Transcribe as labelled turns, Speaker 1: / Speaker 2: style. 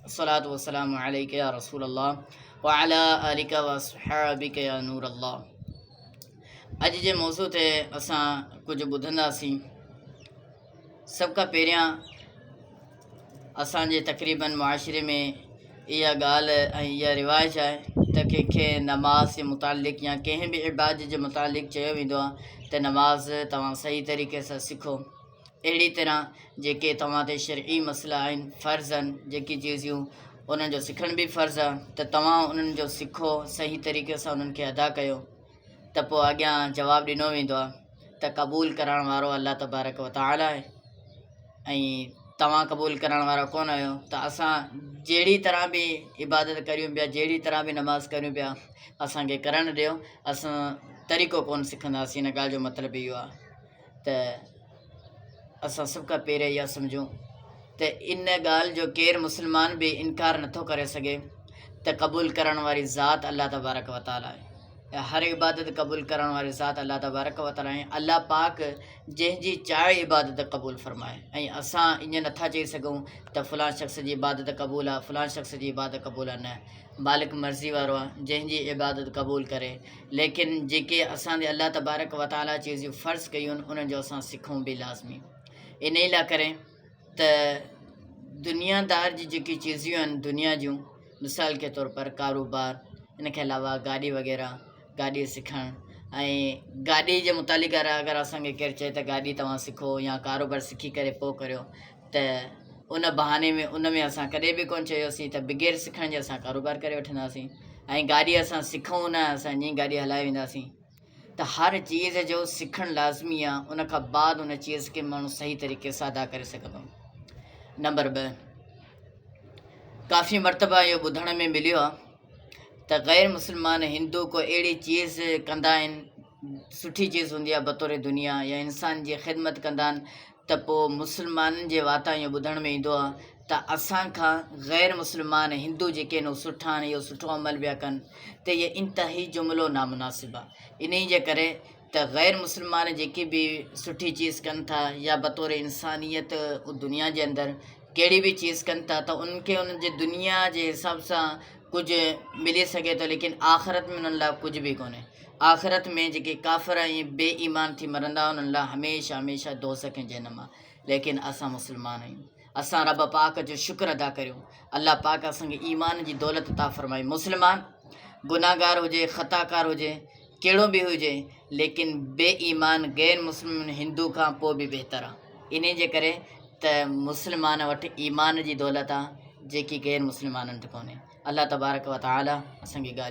Speaker 1: الصلوة والسلام عليك يا رسول الله وعلى آلك واصحابك يا نور الله اڄ جي موضوع تي اسان ڪجهه ٻڌنداسين سڀ کان پهريان اسان جي تقريبن معاشري ۾ اها ڳالهه ۽ اها رواج آهي ته ڪنهنکي نماز جي متعلق يا ڪنهن به عبادت جي متعلق چيو ويندو آهي ته نماز توهان صحيح طريقي سان سکو اهڙي طرح جيڪي توهان تي شرعي مسئلا آهن، فرض آهن، جيڪي چيزيون انهن جو سکڻ به فرض آهي ته توهان انهن جو سکو، صحيح طريقي سان انهن کي ادا ڪيو ته پوء اڳيان جواب ڏنو ويندو آهي ته قبول ڪرڻ وارو الله تبارڪ و تعاليٰ آهي ۽ توهان قبول ڪرڻ وارا ڪونه آهيو ته اسان جهڙي طرح به عبادت ڪريون پيا جهڙي طرح به نماز ڪريون پيا اسان کي ڪرڻ ڏيو اسان طريقو ڪونه سکنداسين ان ڳالهه جو مطلب اهو آهي ته اسان سڀ کان پهريان اها سمجهون ته ان ڳالهه جو ڪير مسلمان به انڪار نٿو ڪري سگهي ته قبول ڪرڻ واري ذات الله تبارڪ وطالعه آهي هر عبادت قبول ڪرڻ واري ذات الله تبارڪ و تعالي الله پاڪ جنهن جي چاهي عبادت قبول فرمائي ۽ اسان ائين نٿا چئي سگهون ته فلان شخص جي عبادت قبول آهي فلان شخص جي عبادت قبول آهي نه مالڪ مرضي وارو آ جنهن جي عبادت قبول ڪري ليڪن جيڪي اسان تي الله تبارڪ وتعالي چيزيون فرض ڪيون انهن جو اسان سکون به لازمي انهي لا ڪري ته دنيا دار جي جيڪي چيزيون آهن دنيا جون مثال ڪي طور پر ڪاروبار ان کي علاوه گاڏي وغيره گاڏي سکڻ ۽ گاڏي جي متعلق اگر اسان کي ڪير چئي ته گاڏي توهان سکو يا ڪاروبار سکي ڪري پوء ڪريو ته ان بهاني ۾ ان ۾ اسان ڪڏهن به ڪون چيوسين ته بغير سکڻ جي اسان ڪاروبار ڪري وٺنداسين ۽ گاڏي اسان سکون نه اسان ائين گاڏي هلائي وينداسين ته هر چيز جو سکڻ لازمي آ ان کان بعد ان چيز کي ماڻهو صحيح طريقي سان ادا ڪري سگهندو نمبر ٻه ڪافي مرتبه اهو ٻڌڻ ۾ مليو آ ته غير مسلمان هندو ڪو اهڙي چيز ڪندا آهن سٺي چيز هوندي آهي بطور دنيا يا انسان جي خدمت ڪندا آهن ته پوء مسلمانن جي واتان اهو ٻڌڻ ۾ ايندو آهي ته اسان کان غير مسلمان هندو جيڪي آهن اهو سٺا آهن اهو سٺو عمل پيا ڪن ته هي انتهائي جملو نامناسب آهي انهي جي ڪري ته غير مسلمان جيڪي به سٺي چيز ڪن ٿا يا بطور انسانيت دنيا جي اندر ڪهڙي به چيز ڪن ٿا ته انهن کي انهن جي دنيا جي حساب سان ڪجهه ملي سگهي ٿو ليڪن آخرت ۾ انهن لاء ڪجهه به ڪونهي آخرت ۾ جيڪي ڪافر ۽ بي ايمان ٿي مرندا انهن لاء هميشه هميشه دوزخ ۽ جهنم آهي ليڪن اسان مسلمان آهيون اسان رب پاڪ جو شڪر ادا ڪريون الله پاڪ اسان کي ايمان جي دولت عطا فرمائي مسلمان گناهگار هجي خطا ڪار هجي ڪهڙو به هجي ليڪن بي ايمان غير مسلم هندو کان پوء به بهتر آهي انهي جي ڪري ته مسلمان وٽ ايمان جي دولت آهي جيڪي غير مسلمانن وٽ ڪونهي الله تبارڪ وتعالي اسان کي ڳالهيون